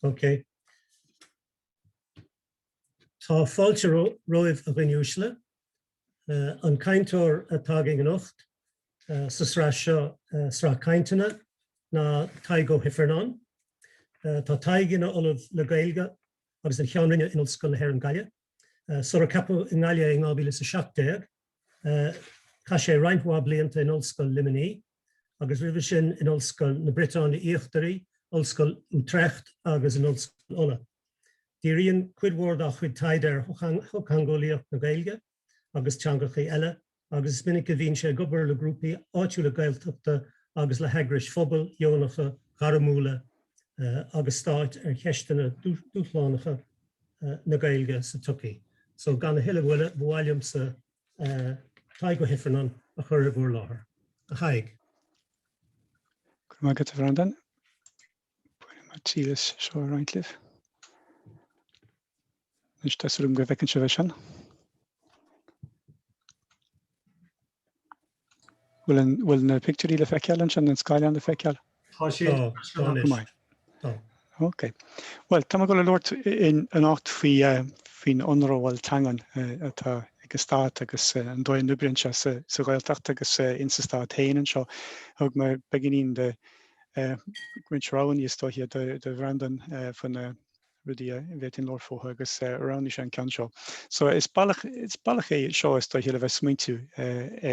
Ok. Tá fáilte romhaibh, a dhaoine uaisle. An cainteoir atá againn anocht sa sraith seo, Sraith Cainteanna, ná Tadhg Ó hIfearnáin. Tá Tadhg ina Ollamh le Gaeilge agus ina Cheann Roinne in Ollscoil na hÉireann, Gaillimh. Sular ceapadh i nGaillimh é in 2017, chaith sé roinnt mhaith blianta in Ollscoil Luimnigh agus roimhe sin in Ollscoil na Briotáine Íochtaraí, Ollscoil Utrecht agus in Ollscoil Uladh. Díríonn cuid mhór dá chuid taighde ar shochtheangeolaíocht na Gaeilge agus teangachaí eile, agus is minic a bhíonn sé ag obair le grúpaí áitiúla Gaeltachta agus le heagrais phobail, dheonacha, ghairmiúla agus stáit ar cheisteanna dúshlánacha na Gaeilge sa tsochaí. So gan a thuilleadh moille, ba mhaith liomsa Tadhg Ó hIfearnáin a chur in bhur láthair. A Thaidhg. Go raibh maith agat, a Bhreandáin. Ba mhaith liom é seo a roinnt libh. Anois tá súil agam go bhfeiceann sibh é sin. Bhfuil an, bhfuil na pictiúirí le feiceáil ansin, an scáileán le feiceáil? Tá sé Tá, tá seo anois. maith. Tá. Ok. Bhuel, tá mé ag dul a labhairt anocht faoi, eh, faoin ionramháil teangan, eh, atá ag an Stát agus, eh, an dóigh a n-oibríonn sé sa, sa Ghaeltacht agus, eh, ins an Stát féin anseo. Thug mé beagáinín de, roinnt roghanna is dóiche do Bhreandán faoi na rudaí a bhféadfainn labhairt fúthu agus roghnaigh sé an ceann seo. So is bealach é seo is dóiche le bheith ag smaointiú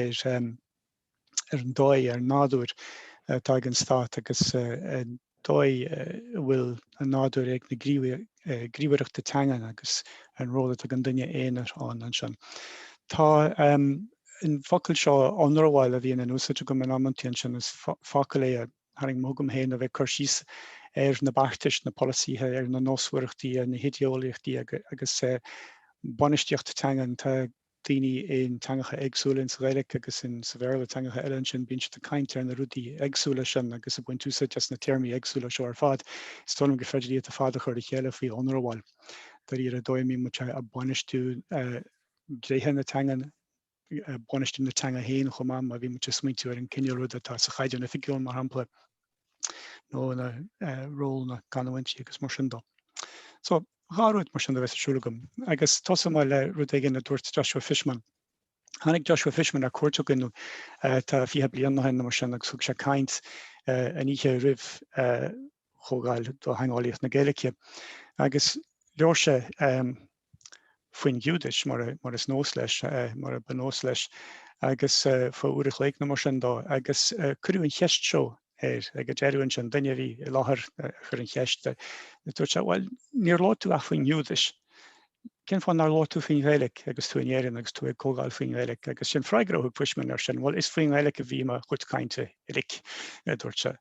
ar an dóigh, ar an nádúr atá ag an stát agus an dóigh a bhfuil an nádúr ag na gníomhaireachta teangan agus an ról atá ag an duine aonair ann ansin. Tá an focal seo ionramháil a bhíonn in úsáid agam in amantaí ansin, is focal é a tharraing mé chugam féin a bheith ag cur síos ar na beartais, na polasaithe, ar na nósmhaireachtaí, ar na hidéeolaíochtaí agus bainistíocht teangan. daoine in teangacha éagsúla, insa Ghaeilic agus in sa Bhéarla, teangacha eile ansin, bíonn siad ag caint ar na rudaí éagsúla sin agus ag baint úsáid as na téarmaí éagsúla seo ar fad. Is dóigh liom gur féidir iad ar fad a chur le chéile faoi ionramháil. Dáiríre an dóigh a mbíonn muid a' bainistiú tréithe na teangan, bainistiú na teanga féin chomh maith, má bhíonn muid a' smaointiú ar an cinéal ruda atá sa Chaighdeán Oifigiúil mar shampla. nó i ról na gcanúintí agus mar sin dó. So, dhá rud mar sin a bheas ar siúl agam. Agus tosóidh mé le rud éigin a dúirt Joshua Fishman. Tháinig Joshua Fishman ar cuairt againn tá fiche bliain ó shin nó mar sin agus thug sé caint an oíche roimh chomhdháil do theangeolaíocht na Gaeilge. Agus labhair sé faoin Ghiúdais, mar is nós leis, mar ba nós leis, agus fá uair a chloig nó mar sin dó, agus cuireadh an cheist seo air, ag an deireadh ansin, duine a bhí i láthair a chuir an cheist, dúirt sé, bhuel, níor labhair tú ach faoin nGiúdais, cén fáth nár labhair tú faoin Ghaeilic agus tú in Éirinn agus tú ag comhdháil faoin nGaeilic? Agus is é an freagra a thug Fishman air sin, bhuel, is faoin nGaeilic a bhí mo chuid cainte. uilig, a dúirt sé.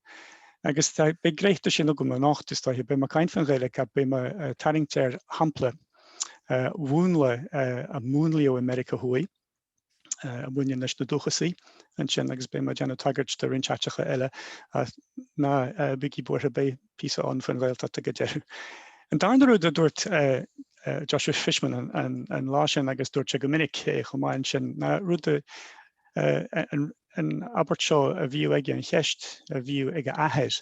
Agus tá, beidh dréachta de sin agam anocht, is dóiche. Beidh mé ag caint faoin Ghaeilge, beidh mé ag tarraingt ar shampla mhúnla a múnlaíodh i Meiriceá Thuaidh, a bhaineann leis na dúchasaigh ansin, agus beidh mé ag déanamh tagairt do roinnt áiteacha eile, ach ná bígí buartha, beidh, píosa ann faoin Ghaeltacht ag an deireadh. An darna rud a dúirt Joshua Fishman an lá sin, agus dúirt sé go minic é chomh maith ansin, ná an abairt seo a bhíodh aige, an cheist a bhíodh ag a athair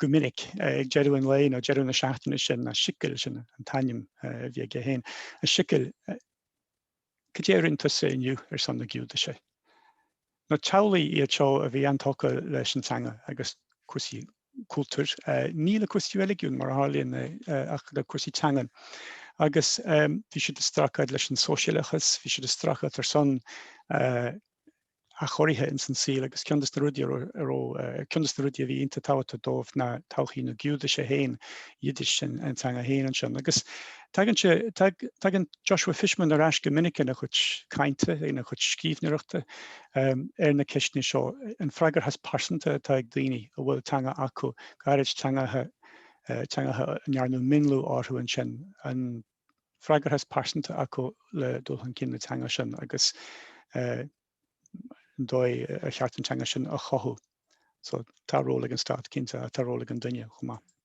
go minic ag deireadh an lae nó deireadh na seachtaine, sin ná 'Sicil', sin an t-ainm a bhí aige féin, 'Sicil, Cad é a rinne tusa inniu ar son na Giúdaise? Nó teaghlaigh iad seo a bhí an-tógtha leis an teanga agus cúrsaí cultúir, ní le cúrsaí reiligiúin mar a tharlaíonn ach le cúrsaí teangan. Agus bhí siad ag streachailt leis an sóisialachas, bhí siad ag streachailt ar son a athchóirithe ins an saol agus ceann des na rudaí a raibh, ceann des na rudaí a bhí iontach tábhachtach dóibh ná todhchaí na Giúdaise féin, Yiddish, an teanga féin ansin. Agus tagann sé, tagann Joshua Fishman ar ais go minic ina chuid cainte, ina chuid scríbhneoireachta ar na ceisteanna seo, an fhreagracht phearsanta atá ag daoine a bhfuil teanga acu, go háirid teangacha a ndearnadh mionlú orthu ansin, an. fhreagracht phearsanta acu le dul chun cinn na teanga sin agus an dóigh ar cheart an teanga sin a chothú. So, tá ról ag an stát, cinnte, ach tá ról ag an duine chomh maith.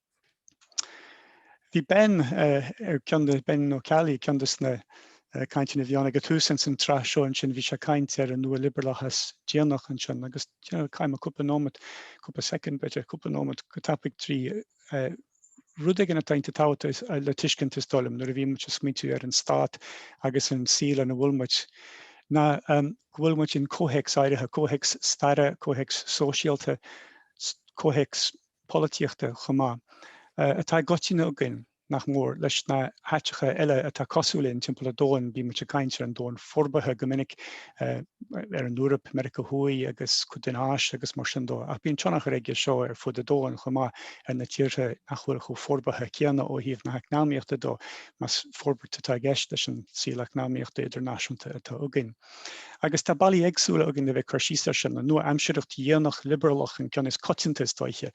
Bhí Ben ar ceann de, Ben Ó Ceallaigh, ceann de na cainteanna a bhí ann ag an tús ins an tsraith seo ansin. Bhí sé ag caint ar an nua-liobrálachas déanach ansin agus, you know, chaith mé cúpla nóimeat, cúpla soicind b'fhéidir, cúpla nóimeat go tapaidh trí rud éigin atá iontach tábhachtach le tuiscint is dóigh liom nuair a bhíonn muid ag smaointiú ar an stát agus an saol ina bhfuil muid ná go bhfuil muid in comhthéacs áirithe, comhthéacs staire, comhthéacs sóisialta, comhthéacs polaitíochta chomh maith, atá i gcoitinne againn, nach mór, leis na háiteacha eile atá cosúil linn timpeall ar domhan. Bíonn muid ag caint ar an domhan forbartha go minic ar an Eoraip, Meiriceá Thuaidh agus cuid den Áis agus mar sin dó. Ach bíonn tionchar aige seo ar fud an domhain chomh maith ar na tíortha nach bhfuil chomh forbartha céanna ó thaobh na heacnamaíochta dó, más forbairt atá i gceist leis an saol eacnamaíochta idirnáisiúnta atá againn. Agus tá bealaí éagsúla againn le bheith ag cur síos air sin, an nua-aimsearacht dhéanach liobrálach an ceann is coitianta is dóiche.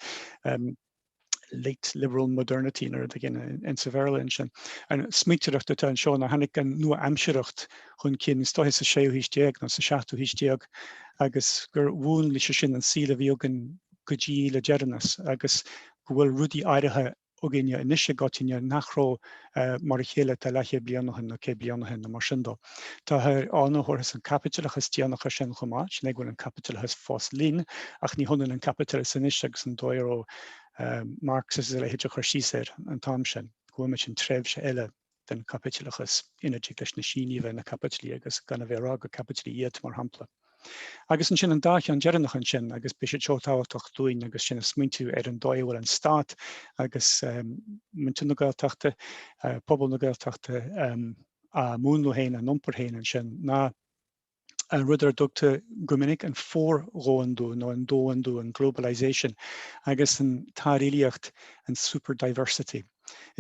late liberal modernity nó rud éigin in sa Bhéarla ansin. An smaointeoireacht atá anseo ná tháinig an nua-aimsearthacht chun cinn is dóiche sa séú haois déag nó sa seachtú haois déag agus gur mhúnlaigh sé sin an saol a bhí againn go dtí le deireanas agus go bhfuil rudaí áirithe againne anois i gcoitinne nach raibh mar a chéile tá leathchéad bliain ó shin nó céad bliain ó shin nó mar sin dó. Táthar ann a thabharfas an caipitleachas déanach air sin chomh maith, sin é go bhfuil an caipitleachas fós linn, ach ní hionann an caipitleachas anois agus an dóigh a raibh Marx agus a leithéid ag cur síos air an t-am sin, go bhfuil muid in tréimhse eile den chaipitleachas, ina dtig leis na Sínigh a bheith ina caipitlí agus gan a bheith ag rá gur caipitlí iad, mar shampla. Agus ansin an dá cheann deireanach ansin, agus beidh sé seo tábhachtach dúinn, agus sinn ag smaointiú ar an dóigh a bhfuil an Stát agus muintir na Gaeltachta, pobal na Gaeltachta á múnlú féin, á n-iompar féin ansin, ná an rud ar a dtugtar go minic an fordhomhandú, nó an domhandú, an globalization, agus an tsárilíocht, an super diversity.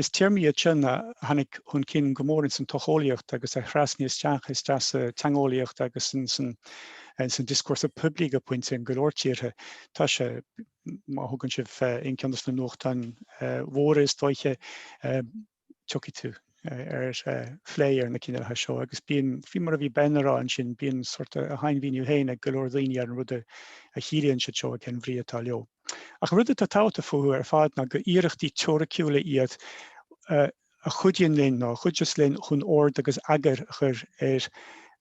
Is téarmaí iad seo a tháinig chun cinn go mór ins an tsocheolaíocht agus a thrasnaigh isteach isteach sa teangeolaíocht agus ins an dioscúrsa poiblí go pointe in go leor tíortha. Tá sé, má thugann sibh aon ceann dos na nuachtáin mhóra is dóiche, tiocfaidh tú ar phlé ar na cineálacha seo agus bíonn, faoi mar a bhí Ben ag rá ansin, bíonn sórt a shainmhíniú féin ag go leor daoine ar an rud a chiallaíonn siad seo, cén bhrí atá leo. Ach an rud atá tábhachtach fúthu ar fad ná gur iarrachtaí teoiriciúla iad a chuidíonn linn, nó a chuidfeas linn, chun ord agus eagar a chur ar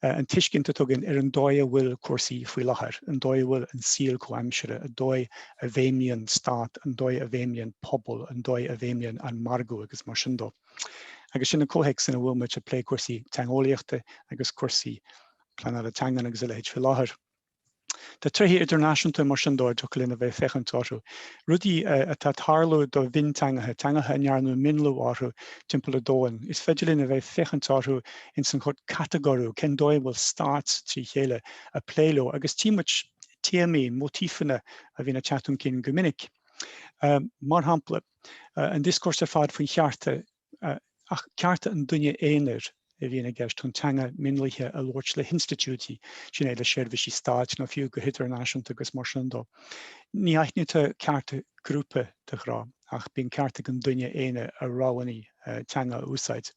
an tuiscint atá againn ar an dóigh a bhfuil cúrsaí faoi láthair, an dóigh a bhfuil an saol comhaimseartha, an dóigh a bhfeidhmíonn stát, an dóigh a bhfeidhmíonn pobal, an dóigh a bhfeidhmíonn an margadh agus mar sin dó. Agus sin an comhthéacs ina bhfuil muid ag plé cúrsaí teangeolaíochta agus cúrsaí pleanála teangan agus a leithéid faoi láthair. Tá tréithe idirnáisiúnta mar sin dó a dtiocfadh linn a bheith ag féachaint orthu, rudaí atá ag tarlú do mhionteangacha, teangacha a ndearnadh mionlú orthu timpeall an domhain. Is féidir linn a bheith ag féachaint orthu ins an catagóiriú, cén dóigh a bhfuil stáit trí chéile, ag plé leo, agus tchí muid téamaí, mótífeanna a bhíonn ag teacht chun cinn go minic. Mar shampla, an dioscúrsa ar fad faoi chearta, ach cearta an duine aonair a bhíonn i gceist chun teanga mionlaithe a labhairt le hinstitiúidí, sin é le seirbhísí stáit nó fiú go hidirnáisiúnta agus mar sin dó. Ní aithnítear cearta grúpa de ghnáth, ach bíonn ceart ag an duine aonair a rogha teanga a úsáid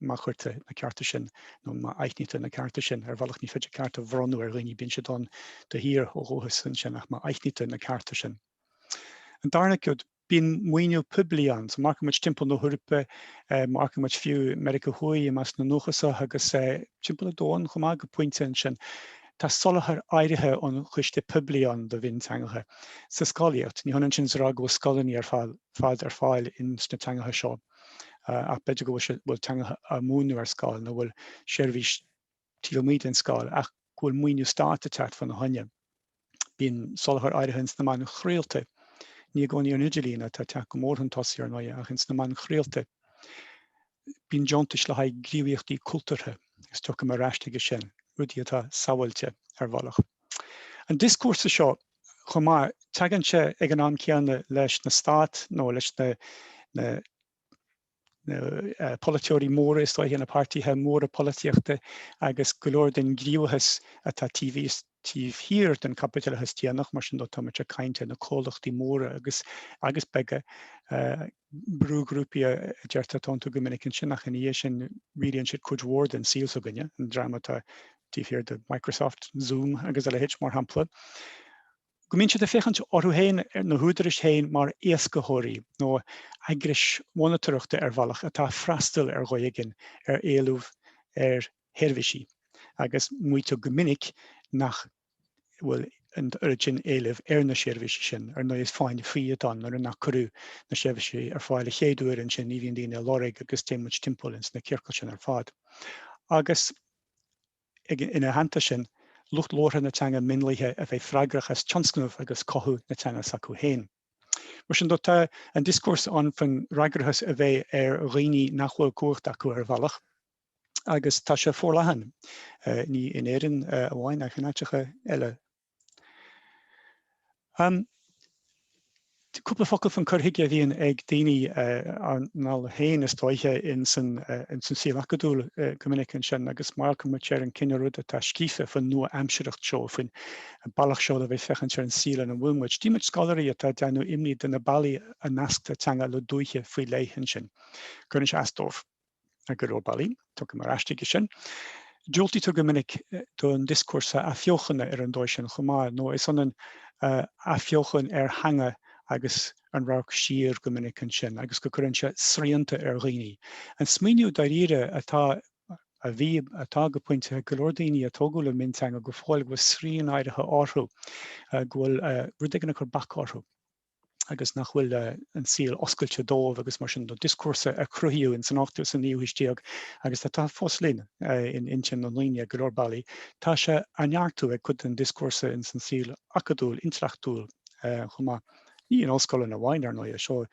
má chuirtear na cearta sin, nó má aithnítear na cearta sin, ar bhealach. Ní féidir ceart a bhronnadh ar dhaoine, bíonn siad ann de shíor ó dhúchas ansin, ach má aithnítear na cearta sin. An darna cuid. Bíonn maoiniú poiblí ann, so amharcann muid timpeall na hEorpa, amharcann muid fiú i Meiriceá Thuaidh i measc na ndúchasach agus timpeall an domhain chomh maith go pointe ansin, tá soláthar áirithe ón chiste poiblí ann do mhionteangacha sa scolaíocht. Ní hionann sin is a rá go bhfuil scoileanna ar fad ar fáil ins na teangacha seo ach b'fhéidir go bhfuil teangacha á múineadh ar scoil nó go bhfuil seirbhís taobh amuigh den scoil ach go bhfuil maoiniú stáit ag teacht fá na choinne. Bíonn soláthar áirithe ins na meáin chraolta, ní i gcónaí ar an idirlíon, atá ag teacht go mór chun tosaigh ar ndóighe, ach ins na meáin chraolta. Bíonn deontais le haghaidh gníomhaíochtaí cultúrtha, agus tiocfaidh mé ar ais chuige sin, rudaí atá sábháilte, ar bhealach. An dioscúrsa seo, chomh maith, teagann sé ag an am céanna leis na stát nó leis na na. na polaiteoirí móra is dóiche, na páirtithe móra polaitíochta agus go leor den gníomhachas atá taobh thíos, taobh thiar den chaipitleachas déanach, mar sin de táimid ag caint ar na comhlachtaí móra agus agus beaga, brúghrúpaí a deirtear atá iontu go minic ansin ach ina dhiaidh sin rialaíonn siad cuid mhór den saol s'againne, an dream atá taobh thiar de Microsoft, Zoom agus a leithéid mar shampla. go mbíonn siad ag féachaint orthu féin, ar na húdaráis féin, mar éascaitheoirí nó eagrais mhonatóireachta ar bhealach atá ag freastal ar dhóigh éigin ar éileamh ar sheirbhísí, agus maítear go minic nach bhfuil an oiread sin éilimh ar na seirbhísí sin. Ar ndóigh, is fáinne fí atá ann, nuair nach cuireadh na seirbhísí ar fáil a chéad uair, ansin ní bhíonn daoine á lorg, agus téann muid timpeall ins na ciorcail sin ar fad. Agus. ina theannta sin, lucht labhartha na teanga mionlaithe a bheith freagrach as tionscnamh agus cothú na teanga s'acu féin. Mar sin de, tá an dioscúrsa ann faoin fhreagrachas a bheith ar dhaoine nach bhfuil cumhacht acu ar bhealach, agus tá sé forleathan, ní in Éirinn amháin ach in áiteacha eile. Cúpla focal fán cur chuige a bhíonn ag daoine ár ndála féin is dóiche ins an saol acadúil go minic ansin agus amharcann muid ar an cineál rud atá scríofa fán nua-aimsearthacht seo, faoin bealach seo le bheith ag féachaint ar an saol ina bhfuil muid. Tchí muid scoláirí atá ag déanamh imní de na bealaí a nasctar teanga le dúiche faoi leith ansin. Cuireann sé as dóibh. ar go leor bealaí. Tiocfaidh mé ar ais chuige sin. Diúltaítear go minic don dioscúrsa athbheochana ar an dóigh sin chomh maith, nó is ionann athbheochan ar theanga agus an radharc siar go minic ansin, agus go gcuireann sé srianta ar dhaoine. An smaoineamh dáiríre atá, a bhí, atá go pointe ag go leor daoine a tógadh le mionteanga go fóill go bhfuil srian áirithe orthu, go bhfuil rud éigin ag cur bac orthu. agus nach bhfuil an saol oscailte dóibh agus mar sin de dioscúrsa a cruthaíodh in san ochtú sa naoú haois déag agus atá fós linn in intinn na ndaoine ar go leor bealaí, tá sé á neartú ag cuid den dioscúrsa in san saol acadúil, intleachtúil chomh maith. Ní in ollscoileanna amháin, ar ndóighe, seo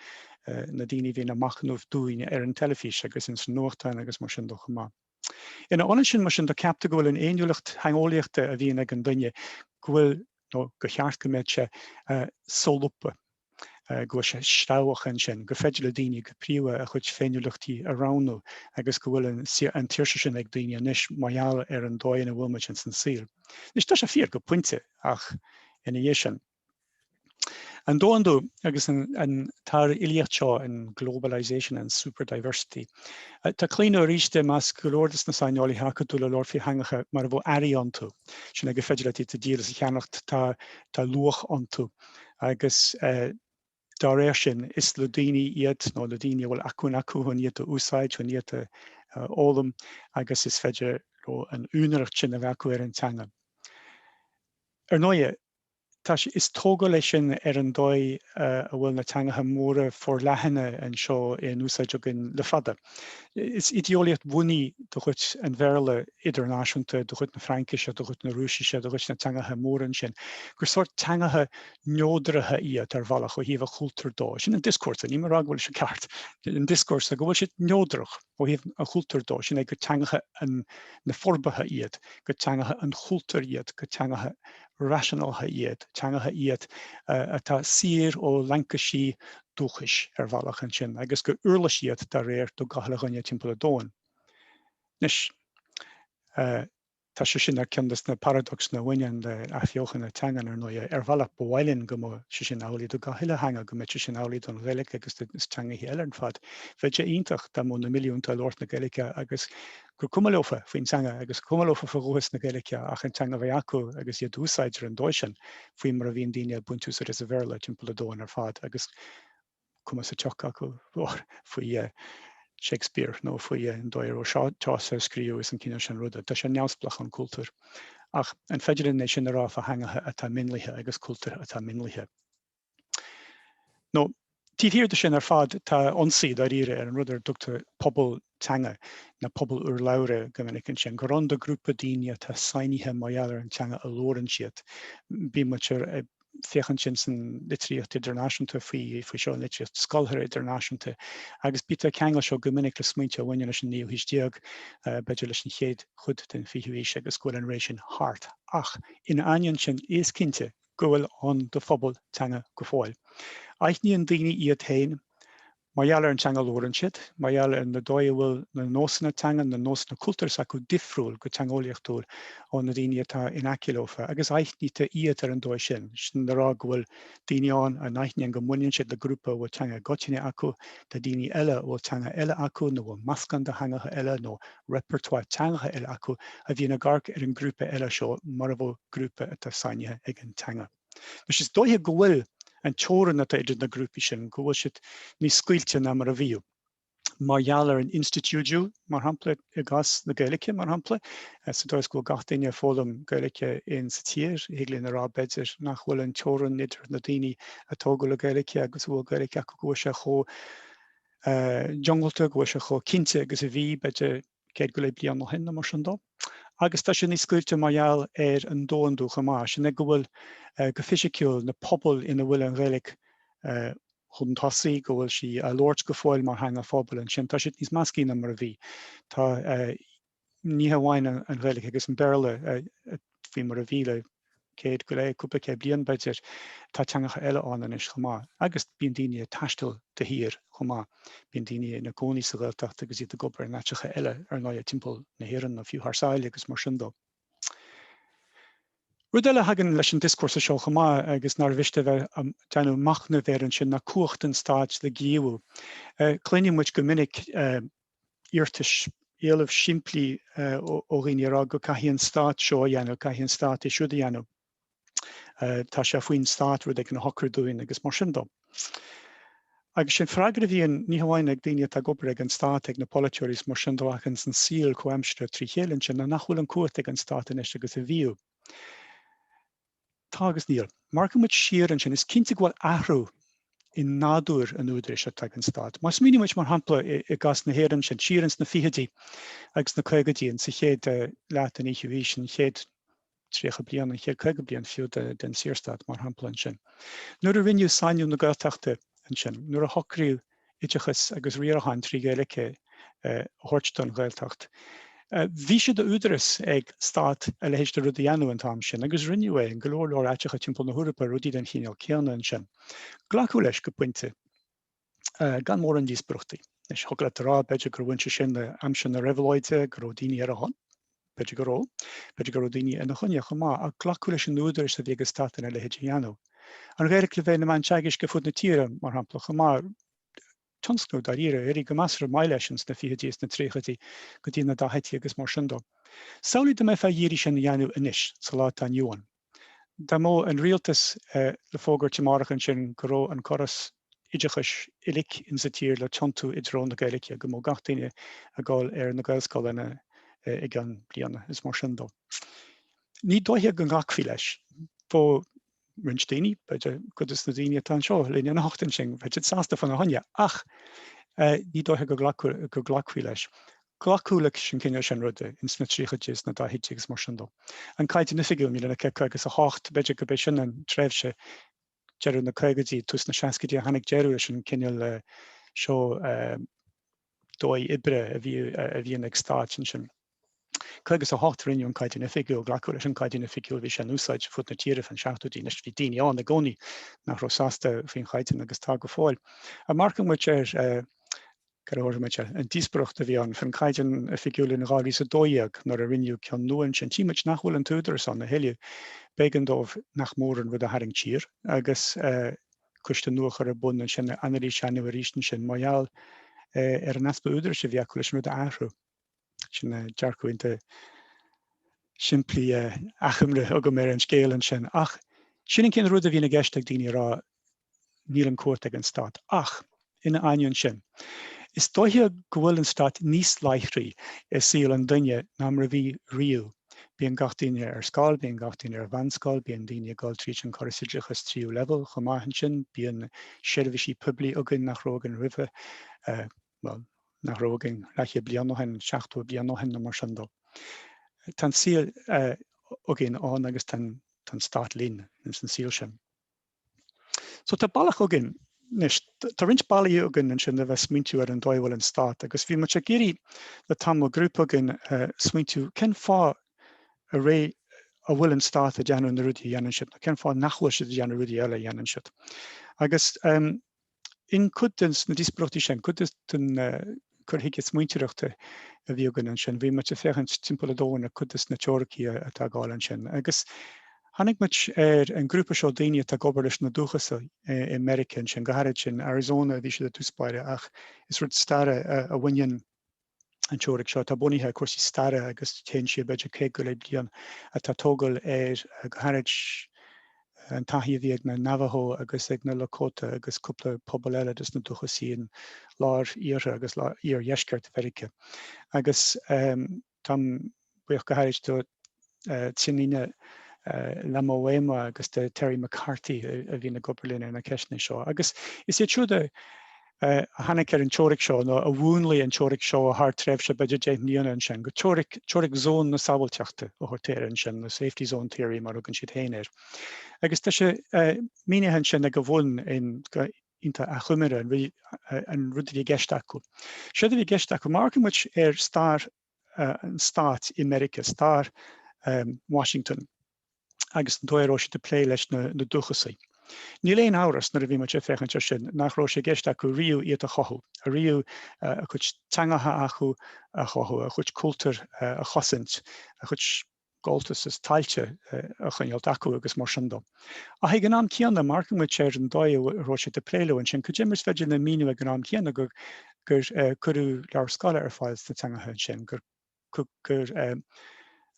na daoine a bhíonn ag machnamh dúinne ar an teilifís agus in san nuachtáin agus mar sin de chomh maith. Ina ionad sin, mar sin de, ceaptar go bhfuil an fhéiniúlacht theangeolaíochta a bhíonn ag an duine, go bhfuil, nó gur cheart go mbeadh sé, solúbtha, go bhfuil sé sreabhach ansin, gur féidir le daoine go príomha a chuid féiniúlachtaí a roghnú agus go bhfuil an tsaoirse sin ag daoine anois mar gheall ar an dóigh ina bhfuil muid insan saol. Anois, tá sé fíor go pointe, ach ina dhiaidh sin. An domhandú agus an tsár-ilíocht seo, an globalisation and super diversity, tá claonadh arís i measc go leor de na saineolaithe acadúla labhairt faoi theangacha mar a bheadh earraí iontu, sin é gur féidir leat iad a dhíol is a cheannacht, tá luach iontu agus dá réir sin is le daoine iad nó le daoine a bhfuil acmhainn acu chun iad a úsáid, chun iad a fhoghlaim agus is féidir an úinéireacht sin a bheith acu ar an teanga. Ar ndóigh, Tá sé, is tógáil é sin ar an dóigh a bhfuil na teangacha móra forleathana anseo in úsáid againn le fada. Is idéolaíocht bhunaidh de chuid an Bhéarla idirnáisiúnta, de chuid na Fraincise, de chuid na Rúisise, de chuid na teangacha móra ansin, gur sórt teangacha neodraithe iad ar bhealach ó thaobh an chultúir dó. Sin an dioscúrsa, níl mé ag rá go bhfuil sé ceart, an dioscúrsa go bhfuil siad neodrach. ó thaobh an chultúir dó, sin é gur teangacha na forbartha iad, gur teangacha an chultúir iad, gur teangacha rationalacha iad, teangacha iad atá saor ó laincisí dúchais, ar bhealach, ansin, agus gur uirlis iad, dá réir, do gach uile dhuine timpeall an domhain. Anois, eh. Tá sé sin ar ceann de na paradacsanna a bhaineann le athbheochan na teangan, ar ndóigh. Ar bhealach, ba mhaith linn go mbeadh sé sin amhlaidh do gach uile theanga, go mbeadh sé sin amhlaidh don Ghaeilge agus do na teangacha eile ar fad. Bheadh sé iontach dá mbeadh na milliúnta ag labhairt na Gaeilge agus gur cuma leofa faoin teanga, agus cuma leofa faoi dhúchas na Gaeilge, ach an teanga a bheith acu agus í a d'úsáid ar an dóigh sin, faoi mar a bhíonn daoine ag baint úsáid as an Bhéarla timpeall an domhain ar fad, agus. cuma sa tsioc acu faoi Shakespeare nó faoi an dóigh a raibh Chaucer ag scríobh is an cineál sin ruda. Tá sé neamhspleách ón chultúr. Ach an féidir linn é sin a rá fá theangacha atá mionlaithe agus cultúir atá mionlaithe? Nó, taobh thiar de sin ar fad, tá ionsaí dáiríre ar an rud ar a dtugtar pobal teanga nó pobal urlabhra go minic ansin, gur ann do grúpa daoine atá sainithe mar gheall ar an teanga a labhrann siad. Bíonn muid ag féachaint ansin san litríocht idirnáisiúnta faoi faoi seo an litríocht scolártha idirnáisiúnta agus bítear ag ceangal seo go minic le smaointe a bhaineann leis an naoú haois déag, b'fhéidir leis an chéad chuid den fhichiú haois agus go bhfuil an ré sin thart. Ach ina ainneoin sin, is cinnte go bhfuil ann do phobal teanga go fóill. Aithníonn daoine iad féin Mar gheall ar an teanga a labhrann siad, mar gheall ar an dóigh a bhfuil na nósanna teanga, na nósanna cultúir s'acu difriúil go teangeolaíochtúil ó na daoine atá in aice leofa, agus aithnítear iad ar an dóigh sin, sin le rá go bhfuil daoine ann a aithníonn go mbaineann siad le grúpa a bhfuil teanga i gcoitinne acu, tá daoine eile a bhfuil teanga eile acu, nó a bhfuil meascán de theangacha eile nó repertoire teangacha eile acu, a bhíonn ag amharc ar an grúpa eile seo mar a bheadh grúpa atá sainithe ag an teanga. Anois, is dóiche go bhfuil an teorainn atá idir na grúpaí sin, go bhfuil siad níos scaoilte ná mar a bhíodh, mar gheall ar an institiúidiú, mar shampla, i gcás na Gaeilge, mar shampla, sa dóigh is go bhfuil gach duine ag foghlaim Gaeilge in sa tír, thig linn a rá, b'fhéidir, nach bhfuil an teorainn idir na daoine a tógadh le Gaeilge agus a bhfuil Gaeilge acu, go bhfuil sé chomh diongbhailte, go bhfuil sé chomh cinnte agus a bhí, b'fhéidir. céad go leith bliain ó shin nó mar sin dó, agus tá sé níos scaoilte mar gheall ar an domhandú chomh maith, sin é go bhfuil, go fisiciúil, na pobail ina bhfuil an Ghaeilge chun tosaigh, go bhfuil sí á labhairt go fóill mar theanga phobail ansin, tá siad níos measctha ná mar a bhí. Tá, ní hamháin an Ghaeilge agus an Béarla, faoi mar a bhí le céad go leith, cúpla céad bliain b'fhéidir. Tá teangacha eile ann anois chomh maith agus bíonn daoine ag taisteal de shíor chomh maith. Bíonn daoine ina gcónaí sa Ghaeltacht agus iad ag obair in áiteacha eile, ar ndóighe, timpeall na hÉireann nó fiú thar sáile agus mar sin dó. Rud eile a thagann leis an dioscúrsa seo chomh maith agus nár mhiste a bheith ag déanamh machnaimh air ansin ná cumhacht an stáit le gníomhú. Cluineann muid go minic iarratais, éileamh simplí ó dhaoine a rá go caithfidh an Stát seo a dhéanamh, caithfidh an Stát é siúd a dhéanamh, tá sé faoin Stát rud éigin a shocrú dúinn agus mar sin dó. Agus sin freagra a bhíonn ní hamháin ag daoine atá ag obair ag an Stát, ag na polaiteoirí is mar sin dó ach ins an saol comhaimseartha tríd a chéile ansin, nach bhfuil an chumhacht ag an Stát anois agus a bhíodh. Tá agus níl. Má amharcann muid siar ansin, is cinnte go bhfuil athrú i nádúr an údaráis atá ag an stát. Má smaoiníonn muid, mar shampla, i gcás na hÉireann ansin, siar ins na fichidí agus na caogaidí, ins an chéad leath den fhichiú haois, an chéad tríocha bliain, an chéad caoga bliain fiú den tSaorstát, mar shampla ansin, nuair a rinneadh sainiú na Gaeltachta ansin, nuair a socraíodh oideachas agus riarachán trí Ghaeilge a thabhairt don Ghaeltacht. Bhí sé de údarás ag stát a leithéid de rud a dhéanamh an t-am sin agus rinneadh é in go leor leor áiteacha timpeall na hEorpa, rudaí den chineál céanna ansin. Glacadh leis go pointe gan mórán díospóireachtaí. Anois, thig leat a rá, b'fhéidir, gur bhain sé sin le haimsir na réabhlóide, go raibh daoine ar a shon. B'fhéidir go raibh. B'fhéidir go raibh daoine ina choinne chomh maith, ach glacadh leis an údarás a bhí ag an stát a leithéid a dhéanamh. An Ghaeilge le bheith ina meán teagaisc ar fud na tíre, mar shampla, chomh maith. Tionscnamh, dáiríre, a d'éirigh go measartha maith leis ins na fichidí is na tríochaidí go dtí na daichidí agus mar sin de. Samhlaigh dá mbeifeá ag iarraidh sin a dhéanamh anois, sa lá atá inniu ann. Dá mbeadh an rialtas le fógairt amárach ansin go raibh an córas oideachais uilig in sa tír le tiontú i dtreo na Gaeilge, go mbeadh gach duine ag dul ar na Gaelscoileanna i gceann bliana is mar sin de. Ní dóiche go nglacfaí leis. Bheadh roinnt daoine, b'fhéidir, cuid de na daoine atá anseo linn anocht ansin, bheadh siad sásta fá na choinne, ach ní dóiche go nglacfaí leis. Glacadh leis an gcineál sin ruda, ins na tríochaidí is na daichidí agus mar sin de. An Caighdeán Oifigiúil, 1958, b'fhéidir gurb é sin an tréimhse, deireadh na caogaidí, tús na seascaidí, a tháinig deireadh leis an gcineál seo dóigh oibre a bhí a bhíonn ag stáit ansin. 58 rinneadh an Caighdeán Oifigiúil, glacadh leis an gCaighdeán Oifigiúil, bhí sé in úsáid fud na tíre fan seachtóidí, anois bhí daoine ann i gcónaí nach raibh sásta faoin Chaighdeán agus tá go fóill. Má amharcann muid ar. Amharcann muid ar an díospóireacht a bhí ann faoin Caighdeán Oifigiúil in 2012 nuair a rinneadh ceann nua ansin. Tchí muid nach bhfuil an t-údarás ann a thuilleadh. B'éigean dóibh nach mór an rud a tharraingt siar agus coiste nua a chur ar bun ansin le é a dhéanamh arís ansin mar gheall ar an easpa údaráis a bhí acu leis an rud a athrú. Sin dearcadh iontach simplí, achoimre agam ar an scéal ansin. Ach sin an cineál rud a bhíonn i gceist ag daoine a rá, Níl an chumhacht ag an stát ach, ina ainneoin sin, is dóiche go bhfuil an stát níos láithrí i saol an duine ná mar a bhí riamh. Bíonn gach duine ar scoil, bíonn gach duine ar mheánscoil, bíonn daoine ag dul tríd an chóras oideachais tríú leibhéal chomh maith ansin, bíonn seirbhísí poiblí againn nach raibh againn roimhe, bhuel, nach raibh againn leathchéad bliain ó shin, seachtó bliain ó shin nó mar sin de. Tá an saol againn ann agus tá an stát linn ins an saol sin. So tá bealach againn. Anois, tá roinnt bealaí againn ansin le bheith ag smaointiú ar an dóigh a bhfuil an stát, agus bhí muid ag iarraidh le tamall, grúpa againn, smaointiú cén fáth dáiríre a bhfuil an stát ag déanamh na rudaí a dhéanann siad, nó cén fáth nach bhfuil siad ag déanamh rudaí eile a dhéanann siad. Agus, B'in cuid de na díospóireachtaí sin, cuid den chur chuige smaointeoireachta a bhí againn ansin. Bhí muid ag féachaint timpeall an domhain ar chuid de na teoiricí atá ag gabháil ansin. Agus tháinig muid ar an ghrúpa seo daoine atá ag obair leis na dúchasaigh i Meiriceá ansin, go háirid sin Arizona a bhí siad i dtús báire ach is rud staire a bhaineann an teoiric seo, atá bunaithe ar chúrsaí staire agus téann sí siar b'fhéidir céad go leith bliain, atá tógáil ar, go háirid, an taithí a bhí ag na Navajo agus ag na Lakota agus cúpla pobal eile de na dúchasaigh i lár-iarthar agus iardheisceart Mheiriceá. Agus táim buíoch go háirid do Tsianina Lomawaima agus do Terry McCarty a bhí ag obair linn ar na ceisteanna seo. Agus is iad siúd a tháinig ar an teoiric seo nó a mhúnlaigh an teoiric seo thar tréimhse b'fhéidir deich mbliana ansin, go teoiric zón na sábháilteachta a thugtar air ansin, nó safety zone theory mar a thugann siad féin air. Agus tá sé mínithe ansin ag a bhun in achoimre an rud a bhí i gceist acu. Séard a bhí i gceist acu, má amharcann muid ar stair an stáit i Meiriceá, stair Washington agus an dóigh a raibh siad ag plé leis na dúchasaigh. Níl aon amhras, nuair a bhí muid ag féachaint ar sin nach raibh sé i gceist acu riamh iad a chothú, riamh a chuid teangacha acu a chothú, a chuid cultúir a chosaint, a chuid. gabháltas is tailte a choinneáilt acu agus mar sin de. Ach ag an am céanna, má amharcann muid siar ar an dóigh a raibh siad ag plé leo ansin. Cad é mar is féidir linn a mhíniú ag an am céanna gur cuireadh leabhair scoile ar fáil sna teangacha ansin, gur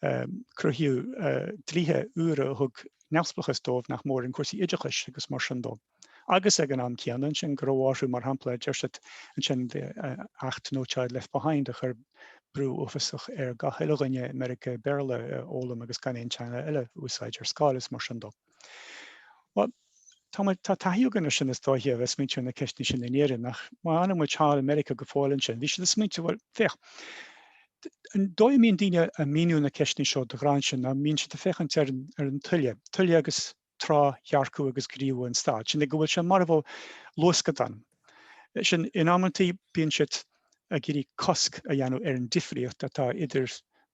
cruthaíodh dlíthe úra a thug neamhspleachas dóibh nach mór i gcúrsaí oideachais agus mar sin de? agus ag an am céanna ansin go raibh orthu, mar shampla, deir siad ansin acht No Child Left Behind a chur brú uafásach ar gach uile dhuine i Meiriceá Béarla a fhoghlaim agus gan aon teanga eile a úsáid ar scoil is mar sin dó. Bhuel, tá, tá taithí againn ar sin is dóiche a bheith smaointiú ar na ceisteanna sin in Éirinn ach má fhanann muid thall i Meiriceá go fóill ansin, bhí siad ag smaointiú, bhuel, féach, an dóigh a mbíonn daoine ag míniú na ceisteanna seo de ghnáth ansin ná bíonn siad ag féachaint ar an tuile, tuile agus trá dhearcadh agus gníomh an stáit, sin é go bhfuil sé mar a bheadh luascadán. Sin, in amantaí bíonn siad ag iarraidh cosc a dhéanamh ar an difríocht atá idir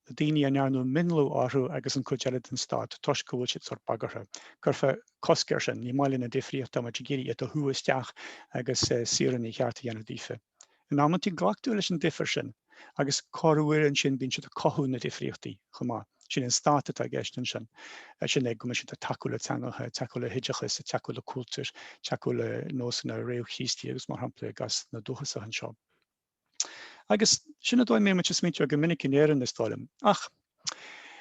na daoine a ndearnadh mionlú orthu agus an chuid eile den stát, toisc go bhfuil siad sórt bagartha. Cuirfear cosc air sin, ní maith linn an difríocht, táimid ag iarraidh iad a shú isteach agus saoránaigh chearta a dhéanamh daofa. In amantaí glactar leis an difear sin, agus corruair ansin bíonn siad ag cothú na difríochtaí chomh maith. Sin an stát atá i gceist ansin, sin é go mbíonn siad ag tacú le teangacha, ag tacú le hoideachas, ag tacú le cultúir, ag tacú le nósanna réamh-Chríostaí agus mar shampla i gcás na dúchasach anseo. Agus sin an dóigh a mbíonn muid ag smaointeamh go minic in Éirinn is dóigh liom. Ach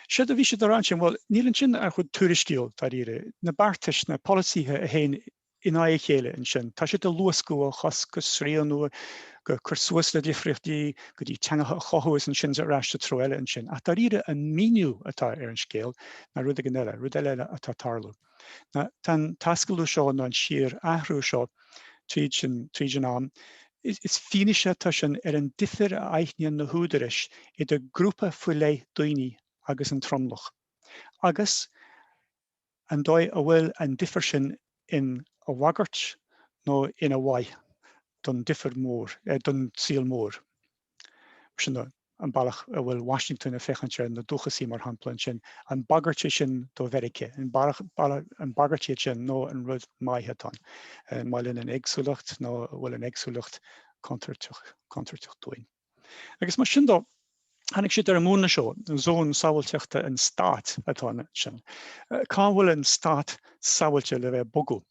séard a bhí siad a rá ansin, bhuel níl ansin ach rud tuairisciúil, dáiríre. Na beartais, na polasaithe a théann in aghaidh a chéile ansin. Tá siad ag luascadh, ó chosc go srianadh, go cur suas le difríochtaí, go dtí teangacha a chothú is ansin ar ais sa treo eile ansin. Ach dáiríre an míniú atá ar an scéal ná rud éigin eile, rud eile atá tarlú. Ná tá an t-ascalú seo nó an síor athrú seo tríd an tríd an am, is fianaise atá sin ar an difear a aithníonn na húdaráis idir grúpa faoi leith daoine agus an tromlach. Agus. An dóigh a bhfuil an difear sin ina bhagairt nó ina mhaith don difear mór, don saol mór. Sin an bealach a bhfuil Washington ag féachaint ar na dúchasaigh, mar shampla, ansin. An bagairt é sin do Mheirice? An bagairt iad sin nó an rud maith atá ann? An maith linn an éagsúlacht nó an bhfuil an éagsúlacht contúirteach dúinn? Agus mar sin dó, tháinig siad ar an múnla seo, zón sábháilteachta an stáit atá ansin. Cá bhfuil an stát sábháilte le bheith bogadh?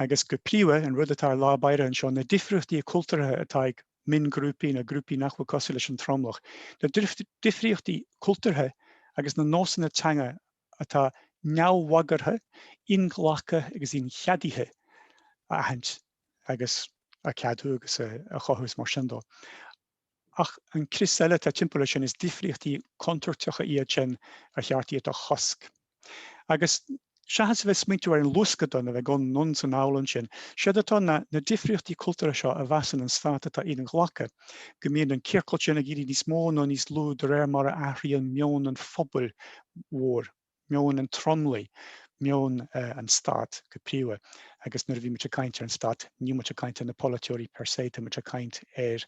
Agus go príomha, an rud atá i lár báire anseo, na difríochtaí cultúrtha atá ag mionghrúpaí nó grúpaí nach bhfuil cosúil leis an tromlach, na difríochtaí cultúrtha agus na nósanna teanga atá neamhbhagartha, inghlactha agus incheadaithe a aithint agus a cheadú agus a chothú is mar sin dó. Ach an crios eile atá timpeall air sin, is difríochtaí contúirteacha iad sin ar cheart iad a chosc. Agus seachas a bheith ag smaointiú ar an luascadán a bheith ag dul anonn is anall ansin, séard atá ná na difríochtaí cultúrtha seo a mheasann an stát atá inghlactha, go mbíonn an ciorcal sin ag éirí níos mó nó níos lú de réir mar a athraíonn meon an phobail mhór, meon an tromlaigh, meon an stáit go príomha, agus nuair a bhíonn muid ag caint ar an stát níl muid ag caint ar na polaiteoirí per se, tá muid ag caint ar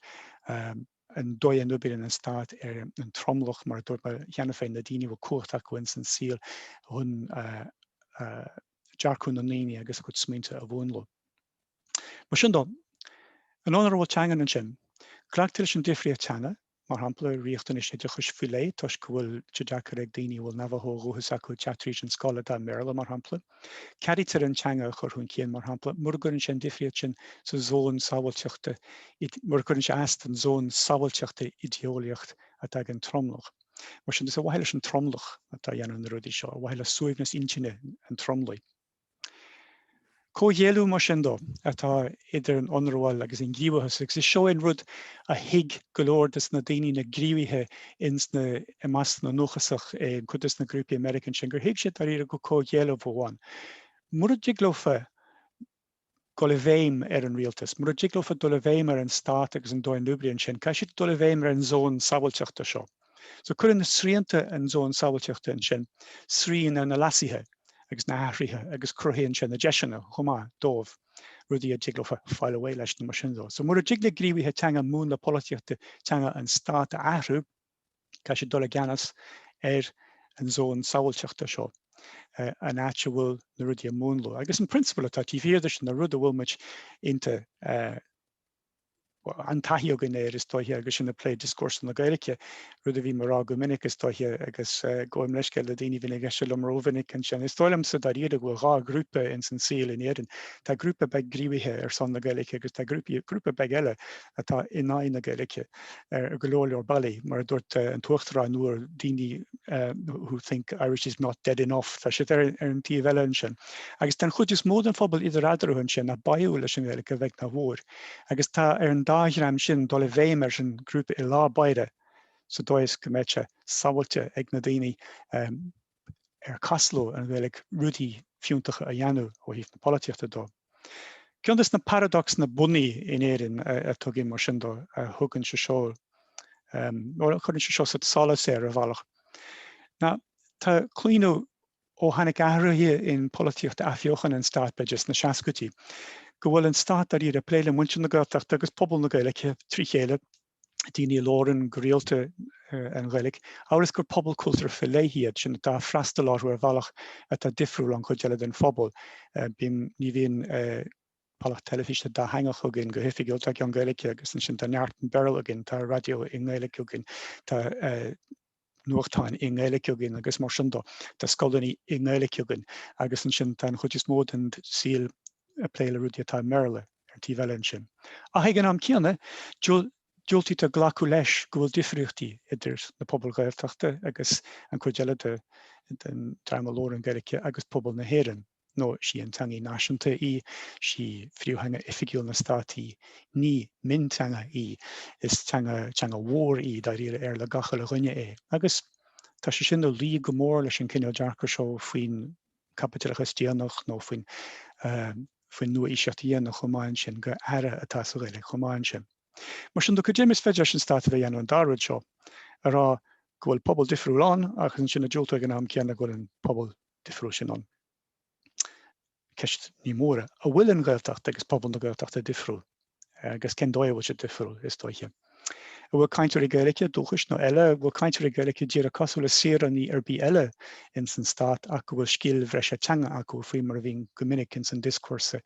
an dóigh a n-oibríonn an stát ar an tromlach, mar a dúirt mé cheana féin, na daoine a bhfuil cumhacht acu ins an saol chun dearcadh na ndaoine agus a gcuid smaointe a mhúnlú. Mar sin dó, an áit a bhfuil teanga ansin? Glactar leis an difríocht teanga, mar shampla, riachtanais oideachais faoi leith, toisc go bhfuil sé deacair ag daoine a bhfuil Navajo ó dhúchas acu teacht tríd an scoil atá i mBéarla, mar shampla. Ceadaítear an teanga a chur chun cinn, mar shampla, mura gcuireann sé an difríocht sin sa zón sábháilteachta, mura gcuireann sé as don zón sábháilteachta idé-eolaíocht atá ag an tromlach. Mar sin, is ar mhaithe leis an tromlach atá ag déanamh na rudaí seo, ar mhaithe le suaimhneas intinne an tromlaigh. Comhghéilleadh mar sin dó atá idir an ionramháil agus an gníomhachas, agus is seo é an rud a thuig go leor des na daoine, na gníomhaithe ins na, i measc na ndúchasach i gcuid des na grúpaí American sin, gur thuig siad dáiríre go comhghéilleadh amháin. Mura dtig leofa na. dul i bhfeidhm ar an rialtas, mura dtig leofa dul i bhfeidhm ar an stát agus an dóigh a n-oibríonn sin, caithfidh siad dul i bhfeidhm ar an zón sábháilteachta seo. So cuireann na srianta an zón sábháilteachta ansin srian ar na leasuithe agus na hathruithe agus cruthaíonn sé na deiseanna chomh maith dóibh rudaí a dtig leofa fáil away leis nó mar sin de. So mura dtig le gníomhaithe teanga múnla polaitíochta teanga an stát a athrú, caithfidh siad dul i gceannas ar an zón sábháilteachta seo, an áit a bhfuil na rudaí ag múnlú. Agus an prionsabal atá taobh thiar de sin, nó rud a bhfuil muid iontach, an-taithí againn air is dóiche agus sinn ag plé dioscúrsa na Gaeilge, rud a bhím ag rá go minic is dóiche agus gabhaim leithscéal le daoine a bhíonn ag éisteacht liom rómhinic ansin, is dóigh liomsa dáiríre go bhfuil dhá ghrúpa ins an saol in Éirinn, tá grúpa beag gníomhaithe ar son na Gaeilge agus tá grúpa beag eile atá in aghaidh na Gaeilge ar go leor leor bealaí. Mar a dúirt an tUachtarán nuair, daoine who think Irish is not dead enough, tá siad ar an taobh eile ansin. Agus den chuid is mó den phobal idir eatarthu ansin atá báúil leis an nGaeilge a bheag nó a mhór. Agus tá ar an dá dhream sin dul i bhfeidhm ar an ghrúpa i lár báire sa dóigh is go mbeidh sé sábháilte ag na daoine. ar cás leo an Ghaeilg rudaí fiúntacha a dhéanamh ó thaobh na polaitíochta de. Ceann de na paradacsanna bunaidh in Éirinn a thugann, mar sin de, a thugann sé seo, nó a chuireann sé seo sa solas é, ar bhealach, ná tá claonadh, ó tháinig athruithe i bpolaitíocht athbheochan an stáit, b'fhéidir, sna seascaidí, go bhfuil an stát dáiríre ag plé le muintir na Gaeltachta agus pobal na Gaeilge trí chéile, daoine a labhrann go rialta an Ghaeilg, amhail is gur pobal cultúrtha faoi leith iad sin atá ag freastal orthu ar bhealach atá difriúil ón gcuid eile den phobal. Bíonn, ní bhíonn bealach teilifíse dátheangach againn, go hoifigiúil tá ceann Gaeilge agus ansin tá neart i mBéarla againn, tá raidió i nGaeilg againn, tá. nuachtáin i nGaeilic againn agus mar sin de, tá scoileanna i nGaeilic againn agus ansin tá an chuid is mó den saol ag plé le rudaí atá i mBéarla ar an taobh eile ansin. Ach ag an am céanna, diúltaítear glacadh leis go bhfuil difríochtaí idir na pobail Ghaeltachta agus an chuid eile den dream a labhrann Gaeilge agus pobal na hÉireann. nó is í an teangaidh náisiúnta í, is í príomhtheanga oifigiúil an stáit í, ní mionteanga í, is teanga, teanga mhór í, dáiríre, ar le gach uile dhuine é. Agus tá sé sin ag luí go mór leis an cineál dearcadh seo faoin gcaipitleachas déanach nó faoin faoin nua-aoiseacht dhéanach chomh maith ansin, gur earra atá sa Ghaeilge chomh maith ansin. Mar sin de, go deimhin is féidir leis an stát a bheith a dhéanamh an dá rud seo, a rá go bhfuil pobal difriúil ann agus ansin ag diúltú ag an am céanna go bhfuil an pobal difriúil sin ann. Ceist mhór ná, an bhfuil an Ghaeltacht agus pobal na Gaeltachta difriúil, agus cén dóigh a bhfuil siad difriúil, is dóiche. An bhfuil cainteoirí Gaeilge, dúchais nó eile, an bhfuil cainteoirí Gaeilge díreach cosúil le saoránaigh ar bith eile ins an stát ach go bhfuil scil bhreise teanga acu, faoi mar a bhíonn go minic ins an dioscúrsa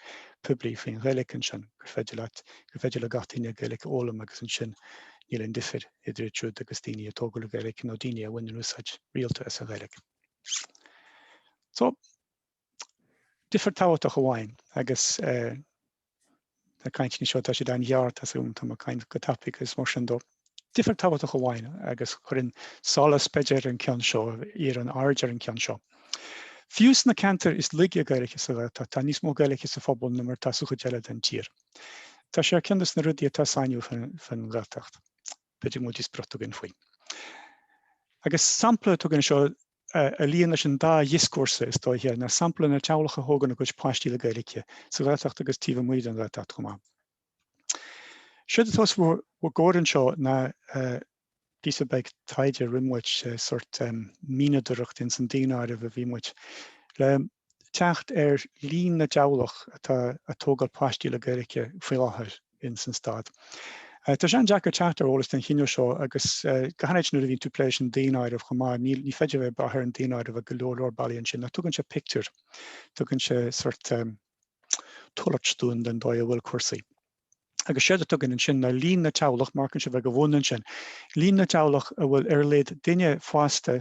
poiblí faoin Ghaeilge ansin, gur féidir leat, gur féidir le gach duine Gaeilge a fhoghlaim agus ansin níl aon difir idir iad siúd agus daoine a tógadh le Gaeilge nó daoine a bhaineann úsáid rialta as an Ghaeilge. So, difear tábhachtach amháin, agus tá na cainteanna seo tá siad an-ghearr, so tá mé ag caint go tapaidh agus mar sin de. Difear tabhachtach amháin, agus cuireann solas b'fhéidir ar an gceann seo, iarrann aird ar an gceann seo. Fiú sna ceantair is laige Gaeilge sa Ghaeltacht tá níos mó Gaeilge sa phobal ná mar atá sa chuid eile den tír. Tá sé ar cheann de sna rudaí atá sainiúil faoin Ghaeltacht. B'fhéidir go bhfuil díospóireacht againn faoi. Agus sampla atá againn anseo a luíonn leis an dá dhioscúrsa, is dóiche, ná sampla na dteaghlach a thógann a gcuid páistí le Gaeilge, sa Ghaeltacht agus taobh amuigh den Ghaeltacht chomh maith. Séard atá os bhur gcomhair anseo ná píosa beag taighde a rinne muid, sort mianadóireacht ins an daonáireamh a bhí muid le teacht ar líon na dteaghlach atá a' tógáil páistí le Gaeilge faoi láthair ins an stát. Tá sé an-deacair teacht ar eolas den chineál seo agus go háirid nuair a bhíonn tú ag plé leis an daonáireamh chomh maith ní féidir a bheith ag brath ar an daonáireamh ar go leor leor bealaí ansin ach tugann sé pictiúr, tugann sé sort tuairisc dúinn den dóigh a bhfuil cúrsaí. Agus séard atá againn ansin ná líon na dteaghlach, má amharcann sibh go bun ansin, líon na dteaghlach a bhfuil ar a laghad duine fásta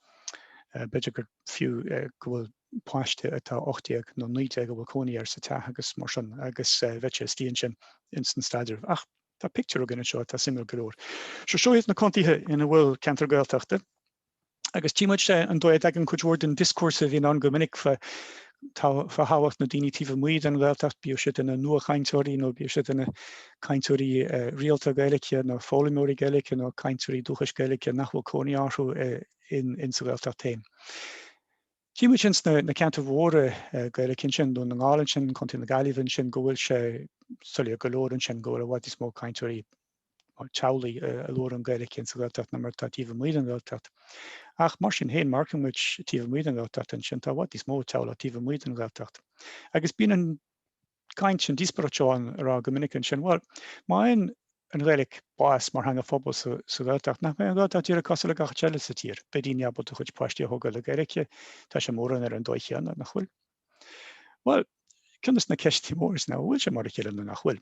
B'fhéidir gur fiú go bhfuil páiste atá 18 nó 19 a bhfuil cónaí air sa teach agus mar sin agus bheadh sé istigh ansin ins an staidreamh. Ach tá pictiúr againn anseo atá suimiúil go leor. Seo seo iad na contaetha ina bhfuil ceantar Gaeltachta agus tchí muid an dóigh a dtagann cuid mhór den dioscúrsa a bhíonn ann go minic fá thábhacht na ndaoine taobh amuigh den Ghaeltacht, bíodh siad ina nuachainteoirí nó bíodh siad ina cainteoirí rialta Gaeilge nó foghlaimeoirí Gaeilge nó cainteoirí dúchais Gaeilge nach bhfuil cónaí orthu sa Ghaeltacht féin. Tchí muid ansin sna ceantair mhóra Gaeilge ansin, Dún na nGall ansin, Contae na Gaillimhe ansin, go bhfuil sé soiléir go leor ansin go bhfuil i bhfad níos mó cainteoirí teaghlaigh a labhrann Gaeilge ansa Ghaeltacht ná mar atá taobh amuigh den Ghaeltacht. Ach mar sin féin, má amharcann muid taobh amuigh den Ghaeltacht ansin, tá i bhfad níos mó teaghlach taobh amuigh den Ghaeltacht. Agus bíonn an caint sin, díospóireacht seo ann á rá go minic ansin, bhuel, má fhaigheann an Ghaeilge bás mar theanga phobail sa Ghaeltacht, nach mbeidh an Ghaeltacht díreach cosúil le gach áit eile sa tír, beidh daoine ábalta a gcuid páistí a thógáil le Gaeilge, tá sé mórán ar an dóigh chéanna, nach bhfuil? Bhuel, ceann de na ceisteanna móra ná an bhfuil sé mar a chéile nó nach bhfuil?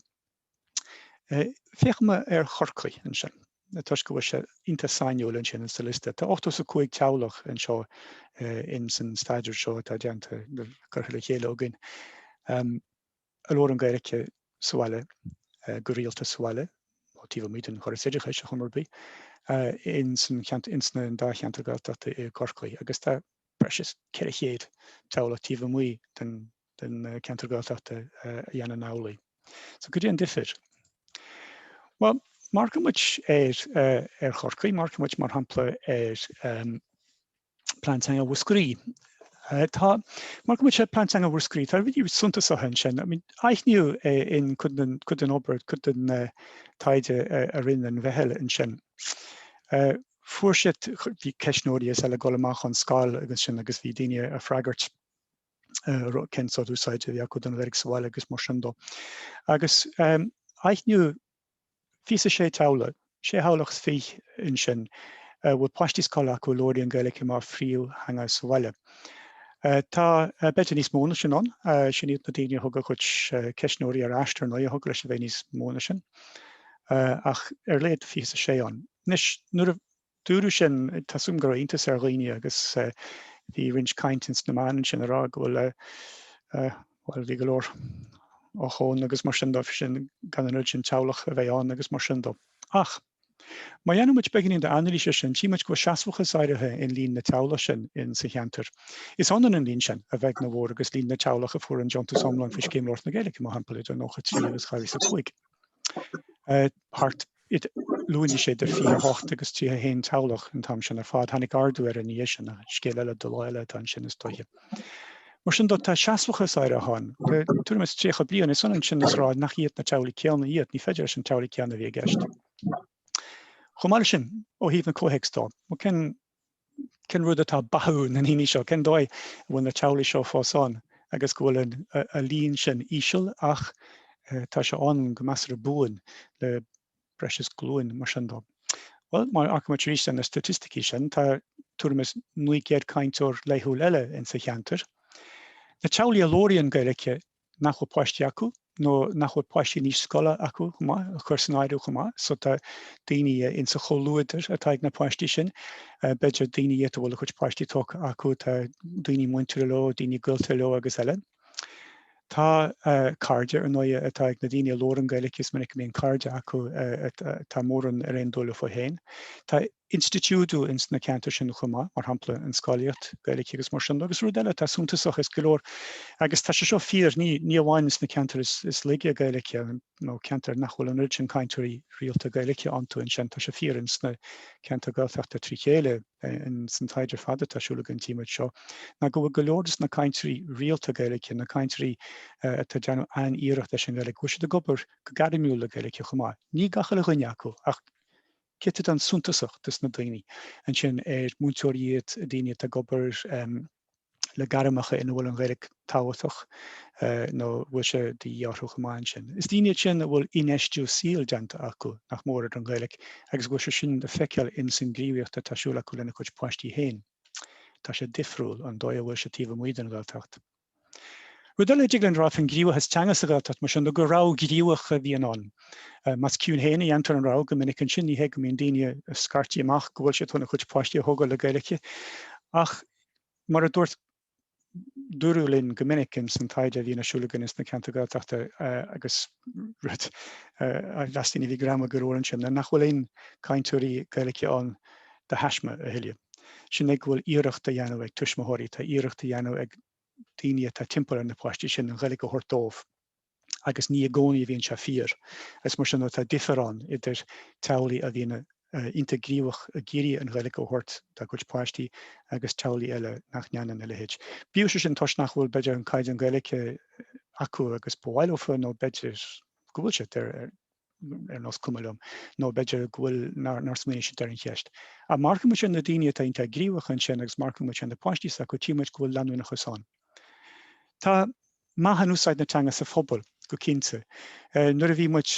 Féachaimis ar Chorcaigh ansin, toisc go bhfuil sé iontach sainiúil ansin sa liosta. Tá ochtó is a cúig teaghlach anseo in san staidéar seo atá déanta, curtha le chéile againn. A labhrann Gaeilge sa bhaile, go rialta sa bhaile, nó taobh amuigh den chóras oideachais, ar chuma ar bith, in san cheantar, in sna dá cheantar Gaeltachta i gCorcaigh. Agus tá breis is ceithre chéad teaghlach taobh amuigh den. den cheantar Gaeltachta a dhéanann amhlaidh. So caidé an difear? Bhuel, má amharcann muid ar ar Chorcaigh, má amharcann muid mar shampla ar Plean Teanga Mhúscraí. Tá, má amharcann muid ar Plean Teanga Mhúscraí, tá rudaí suntasacha ansin. I mean, aithníodh in cuid den cuid den obair, cuid den taighde a rinne an mheitheal ansin, fuair siad, bhí ceistneoirí is eile ag dul amach ón scoil agus sin agus bhí daoine a' freagairt, cén sórt úsáide a bhí acu don Ghaeilge sa bhaile agus mar sin dó. Agus aithníodh fiche is a sé teaghlach, sé theaghlach is fiche ansin, a bhfuil páistí scoile acu a labhraíonn Gaeilge mar phríomhtheanga sa bhaile. Tá b'fhéidir níos mó na sin ann, sin iad na daoine a thug a gcuid ceistneoirí ar ais, ar ndóigh, thiocfadh leis a bheith níos mó na sin, ach ar a laghad fiche is a sé ann. Anois, nuair a dúradh sin, tá a fhios agam go raibh iontas ar dhaoine agus bhí roinnt cainte sna meáin ansin a rá go bhfuil bhuel bhí go leor ochón agus mar sin dó sin gan an oiread sin teaghlach a bheith ann agus mar sin dó. Ach má dhéanann muid beagáinín d'anailís ar sin, tchí muid go bhfuil seasmhachas áirithe in líon na teaghlach sin in sa cheantar. Is ionann an líon sin, a bheag nó a mhór, agus líon na teaghlach a fuair an deontas iomlán faoi Scéim Labhairt na Gaeilge, mar shampla, idir 93 agus 2005. Thart ar, luainigh sé idir 28 agus 31 teaghlach an t-am sin ar fad. Tháinig ardú air ina dhiaidh sin, ach scéal eile do lá eile atá ansin is dóiche. Mar sin de, tá seasmhachas áirithe ann. Le tuairim is 30 bliain, is ionann sin is rá nach iad na teaghlaigh céanna iad, ní féidir leis na teaghlaigh céanna a bheith i gceist. Chomh maith le sin, ó thaobh an comhthéacs dó, má cen cén rud atá ag beathú na ndaoine seo, cén dóigh a bhfuil na teaghlaigh seo fós ann agus go bhfuil a líon sin íseal ach tá sé ann go measartha buan le breis is glúin mar sin dó. Bhuel, má amharcann muid arís ar na staitisticí sin, tá tuairim is 900 cainteoir laethúil eile insa cheantar. Na teaghlaigh a labhraíonn Gaeilge nach bhfuil páistí acu nó nach bhfuil páistí in aois scoile acu chomh maith, a chur san áireamh chomh maith. So tá daoine in sa chomhluadar atá ag na páistí sin, b'fhéidir daoine iad a bhfuil a gcuid páistí tógtha acu, tá daoine muinteartha leo, daoine gaolta leo agus eile. Tá cairde ar ndóighe atá ag na daoine a labharann Gaeilge, is minic a mbíonn cairde acu atá mórán ar aon dul leofa féin. Tá. institiúidiú ins na ceantair sin chomh maith, mar shampla, an scolaíocht Gaeilge agus mar sin. Agus rud eile atá suntasach, is go leor, agus tá sé seo fíor, ní, ní amháin ins na ceantair is, is laige Gaeilge, nó ceantair nach bhfuil an oiread sin cainteoirí rialta Gaeilge iontu, ansin, tá sé fíor ins na ceantair Gaeltachta trí chéile, ins an taighde fada atá siúl againn tchí muid seo, ná go bhfuil go leor des na cainteoirí rialta Gaeilge, na cainteoirí atá ag déanamh an-iarracht leis an Ghaeilge, go bhfuil siad ag obair go gairmiúil le Gaeilge chomh maith. Ní gach uile dhuine acu, ach. céatadán suntasach des na daoine ansin ar múinteoirí iad, daoine atá ag obair le gairmeacha ina bhfuil an Ghaeilge tábhachtach nó a bhfuil sé de dhíth orthu chomh maith ansin. Is daoine iad sin a bhfuil infheistiú saoil déanta acu, nach mór, ar an Ghaeilge agus a bhfuil sé sin le feiceáil in san gníomhaíocht atá siúl acu lena gcuid páistí féin. Tá sé difriúil ón dóigh a bhfuil sé taobh amuigh den Ghaeltacht. Rud eile a dtig linn a rá faoin gníomhachas teanga sa Ghaeltacht mar sin nó gur rogha gníomhach a bhíonn ann. Más ciúin féin a dhéantar an rogha go minic ansin ní hé go mbíonn daoine ag scairtigh amach go bhfuil siad chun a gcuid páistí a thógáil le Gaeilge ach mar a dúirt dúradh linn go minic in san taighde a bhíonn ar siúl againn ins na ceantair Gaeltachta agus rud a mheastar ní bhíodh greim ag an gcomhair ansin, ná nach bhfuil aon cainteoirí Gaeilge ann de thaisme a thuilleadh. Sin é go bhfuil iarracht a dhéanamh ag tuismitheoirí, tá iarracht a dhéanamh ag daoine atá timpeall ar na páistí sin an Ghaeilge a thabhairt dóibh, agus ní i gcónaí a bhíonn sé fíor. Is mar sin atá difear ann idir teaghlaigh a bhíonn a iontach gníomhach ag iarraidh an Ghaeilge a thabhairt dá gcuid páistí agus teaghlaigh eile nach ndéanann a leithéid. Bíodh sé sin toisc nach bhfuil, b'fhéidir, an caighdeán Gaeilge acu agus ba mhaith leofa, nó b'fhéidir go bhfuil siad ar nós cuma liom, nó b'fhéidir go bhfuil, nár smaoinigh siad ar an cheist. Ach má amharcann muid ar na daoine atá iontach gníomhach ansin agus má amharcann muid ar na páistí s'acu, tchí muid go bhfuil leanúnachas ann. Tá meath in úsáid na teanga sa phobal go cinnte. Nuair a bhí muid.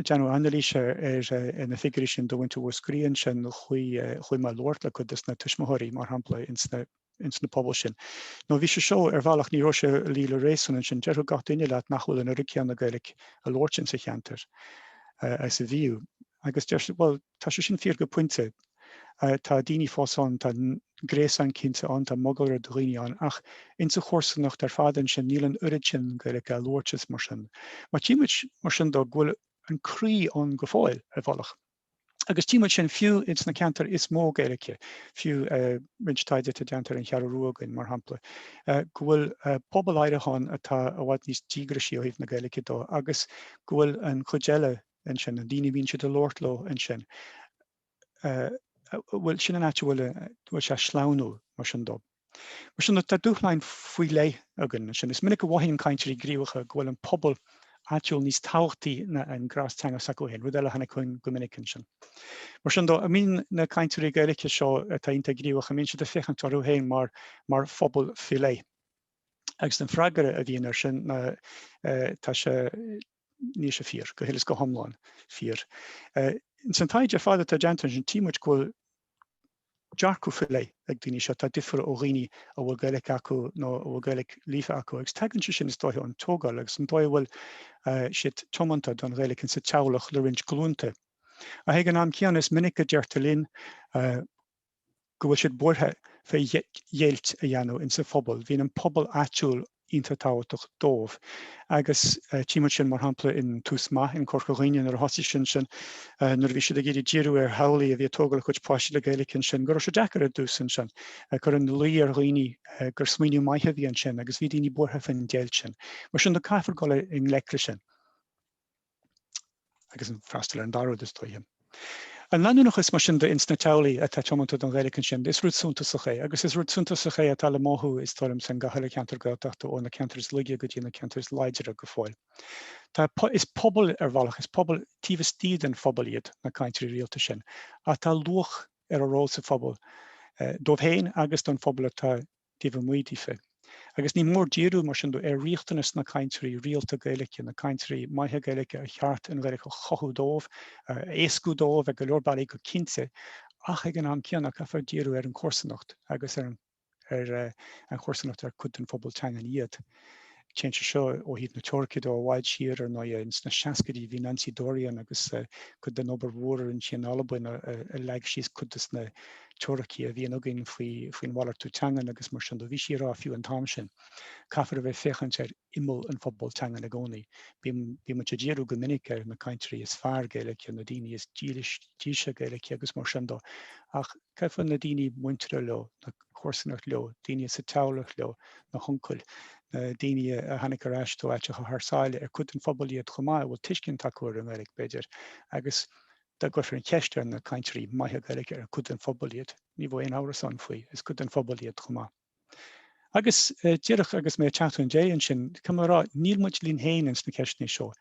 Déanamh anailíse ar na figiúirí sin do cheantar Mhúscraí, ansin chuaigh mé labhairt le cuid de na tuismitheoirí, mar shampla, ins na pobail sin. Nó bhí sé seo, ar bhealach, ní raibh sé ag luí le réasún, ansin déarfadh gach duine leat nach bhfuil an oiread céanna Gaeilic a labhairt ins a' cheantar is a bhíodh. Agus deir siad, bhuel, tá sé sin fíor go pointe, Tá daoine fós ann, tá gréasán cinnte ann, tá mogalra de dhaoine ann, ach ins an chomharsanacht ar fad ansin níl an oiread sin Gaeilge á labhairt is mar sin. Má tchí muid mar sin dó go bhfuil an croí ann go fóill, ar bhealach. Agus tchí muid sin fiú ins na ceantair is mó Gaeilge, fiú roinnt taighde atá déanta ar an Cheathrú Rua againn mar shampla, go bhfuil pobal áirithe ann atá i bhfad níos díograisí ó thaobh na Gaeilge dó agus go bhfuil an chuid eile ansin, na daoine a bhíonn siad a labhairt leo ansin, bhuel, sin an áit a bhfuil a, bhuel, sea, sleamhnú, mar sin dó. Mar sin de, tá dúshláin faoi leith againn ansin. Is minic a mhothaíonn cainteoirí gníomhacha go bhfuil an pobal áitiúil níos tábhachtaí ná an gréas teanga s'acu féin, rud eile a tháinig chugainn go minic ansin. Mar sin dó, a mbíonn na cainteoirí Gaeilge seo atá iontach gníomhach, an mbíonn siad ag féachaint orthu féin mar, mar phobal faoi leith? Agus an freagra a bhíonn air sin ná tá sé, níl sé fíor, go huile is go hiomlán fíor. Ins an taighde ar fad atá déanta ansin, tchí muid go bhfuil dearcadh faoi leith ag daoine seo atá difriúil ó dhaoine a bhfuil Gaeilge acu nó a bhfuil Gaeilge líofa acu, agus tagann sé sin is dóiche ón tógáil agus an dóigh a bhfuil siad tiomanta don Ghaeilge insa teaghlach le roinnt glúnta. Ach ag an am céanna, is minic a deirtear linn, go bhfuil siad buartha fé dheighilt a dhéanamh insa phobal. Bhíonn an pobal áitiúil iontach tábhachtach dóibh agus tchímid sin mar shampla in Tús Maith in Corca Dhuibhne nuair a thosaigh siad ansin nuair a bhí siad ag iarraidh díriú ar theaghlaigh a bhí ag tógáil a gcuid páistí le Gaeilic ansin go raibh sé deacair ar dtús ansin ag cur ina luí ar dhaoine gur smaoineamh maith a bhí ansin agus bhí daoine buartha fén deighilt sin. Mar sin de caithfear dul i ngleic le sin. agus an freastal ar an dá rud is dóiche. An leanúnachas mar sin de ins na teaghlaigh atá tiomanta don Ghaeilge ansin, is rud suntasach é, agus is rud suntasach é atá le mothú is dóigh liom san gach uile cheantar Gaeltachta ó na ceantair is laige go dtí na ceantair is láidre go fóill. Tá, is pobal ar bhealach, is pobal taobh istigh den phobal iad na cainteoirí rialta sin, ach tá luach ar a ról sa phobal, dóibh féin agus don phobal atá taobh amuigh díofa. Agus ní mór díriú, mar sin de, ar riachtanais na gcainteoirí rialta Gaeilge, na cainteoirí maithe Gaeilge ar cheart an Ghaeilge a chothú dóibh, a éascú dóibh ag go leor bealaí go cinnte, ach ag an am céanna caithfear díriú ar an chomharsanacht agus ar an chomharsanacht ar cuid den phobal teangan iad. Téann sé seo ó thaobh na teoirice de i bhfad siar, ar ndóigh. Sna seascaidí, bhí Nancy Dorian agus cuid den obair mhór a rinne sí in Albain a leag síos cuid de na teoiricí a bhíonn againn faoin mhalartú teangan agus mar sin dó. Bhí sí ag rá fiú an t-am sin, caithfear a bheith ag féachaint ar imeall an phobail teangan i gcónaí. Bímid ag díriú go minic ar na cainteoirí is fearr Gaeilge, na daoine is dílse Gaeilge agus mar sin dó, ach caithfear na daoine muinteartha leo, na comharsanacht leo, daoine sa teaghlach leo, na huncail, na daoine a tháinig ar ais ó áiteacha thar sáile, ar cuid den phobal iad chomh maith, a bhfuil tuiscint acu ar an nGaeilge, b'fhéidir. Agus dá gcuirfear an cheist ar na cainteoirí maithe Gaeilge ar cuid den phobal iad, ní bheadh aon amhras ann faoi, is cuid den phobal iad chomh maith. Agus díreach agus mé ag teacht chun deiridh ansin, caithfidh mé a rá, níl muid linn féin ins na ceisteanna seo.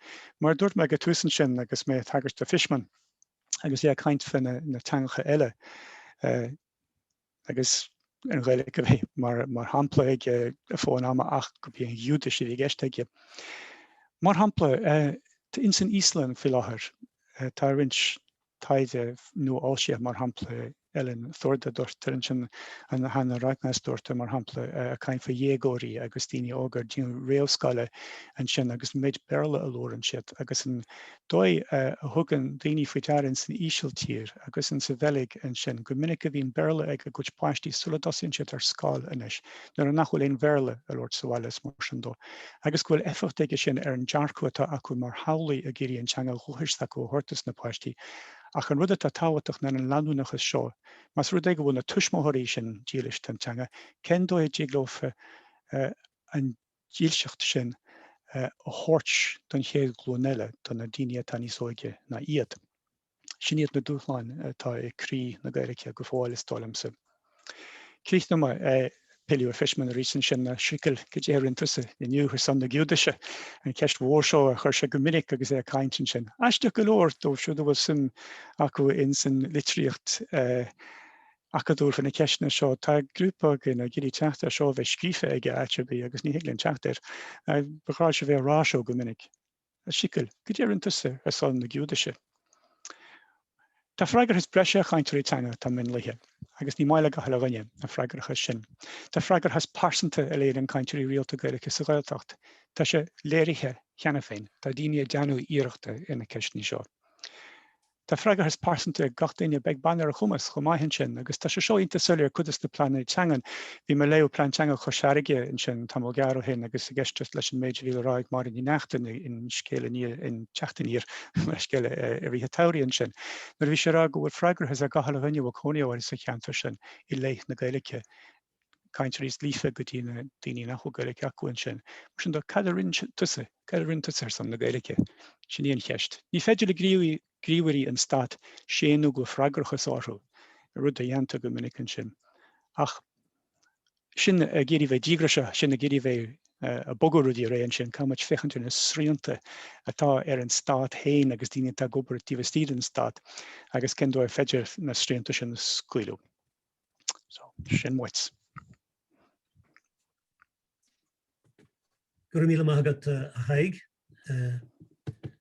Mar a dúirt mé ag an tús ansin agus mé ag tagairt do Fishman agus é ag caint fé na teangacha eile, agus an Ghaeilge a bheith mar shampla aige i bhfad an ama ach gurbh í an Ghiúdais a bhí i gceist aige. Mar shampla, ins an Íoslainn faoi láthair tá roinnt taighde nua-fhoilsithe, mar shampla Elin Thordardottir ansin nó Hanna Ragnarsdóttir, mar shampla, ag caint faoi dhéagóirí agus daoine óga fiú den réamhscoil ansin agus an méid Béarla a labhrann siad agus an dóigh a thugann daoine faoi deara ins an Ísiltír agus ins an Bheilg ansin, go minic go mbíonn Béarla ag a gcuid páistí sula dtosaíonn siad ar scoil anois, nuair nach bhfuil aon Bhéarla á labhairt sa bhaile is mar sin de, agus go bhfuil éifeacht aige sin ar an dearcadh atá acu mar theaghlaigh ag iarraidh an teanga dhúchais s'acu a thabhairt dos na páistí. Ach an rud atá tábhachtach ná an leanúnachas seo. Más rud é go bhfuil na tuismitheoirí sin dílis don teanga, cén dóigh a dtig leofa an dílseacht sin a thabhairt don chéad ghlúin eile, do na daoine atá níos óige ná iad. Sin iad na dúshláin atá i gcroí na Gaeilge go fóill, is dóigh liomsa. Críochnóidh mé ag pilleadh ar Fishman arís ansin, a Shikl cad é a rinne tusa inniu ar son na Giúdaise, an cheist mhór seo a chuir sé go minic agus é ag caint ansin. Aisteach go leor, dóibh siúd a bhfuil suim acu insan litríocht, acadúil faoi na ceisteanna seo. Tá grúpa againn ag iarraidh teacht ar seo a bheith scríofa aige áit ar bith agus ní thig linn teacht air. Ba ghnách leis a bheith ag rá seo go minic. A Shikl, cad é a rinne tusa ar son na Giúdaise? Tá freagrachas breise ar chainteoirí teanga atá mionlaithe, agus ní maith le gach uile dhuine an freagrachas sin. Tá freagrachas pearsanta á léiriú ag cainteoirí rialta Gaeilge sa Ghaeltacht, tá sé léirithe cheana féin, tá daoine ag déanamh iarrachta ar na ceisteanna seo. Tá freagrachas pearsanta ag gach duine, beag beann ar a chumas chomh maith ansin, agus tá sé seo iontach soiléir i gcuid de na pleananna teangan. Bhí mé ag léamh Plean Teanga Chois Fharraige ansin tamall gearr ó shin agus ag éisteacht leis an méid a bhí le rá ag Máirín Ní Neachtain in Scéal Aniar in Teacht Aniar mar scéal i rith an tsamhraidh ansin nuair a bhí sí ag rá go bhfuil freagrachas ar gach uile dhuine a bhfuil cónaí orthu sa cheantar sin i leith na Gaeilge. cainteoirí is líofa go dtí na daoine nach bhfuil Gaeilge acu ansin. Mar sin de, cad a rinne tusa, cad a rinne tusa ar son na Gaeilge? Sin í an cheist. Ní féidir le gníomhairí an stáit séanadh go bhfuil freagrachas orthu, rud a dhéantar go minic ansin. Ach sinn ag iarraidh bheith díograiseach, sinn ag iarraidh bheith ag bogadh rudaí ar aghaidh ansin, caithfidh muid féachaint ar na srianta atá ar an stát féin agus daoine atá ag obair taobh istigh den stát agus cén dóigh ar féidir na srianta sin a scaoileadh. So, sin muid. Go raibh míle maith agat, uh, a Thaidhg. Uh,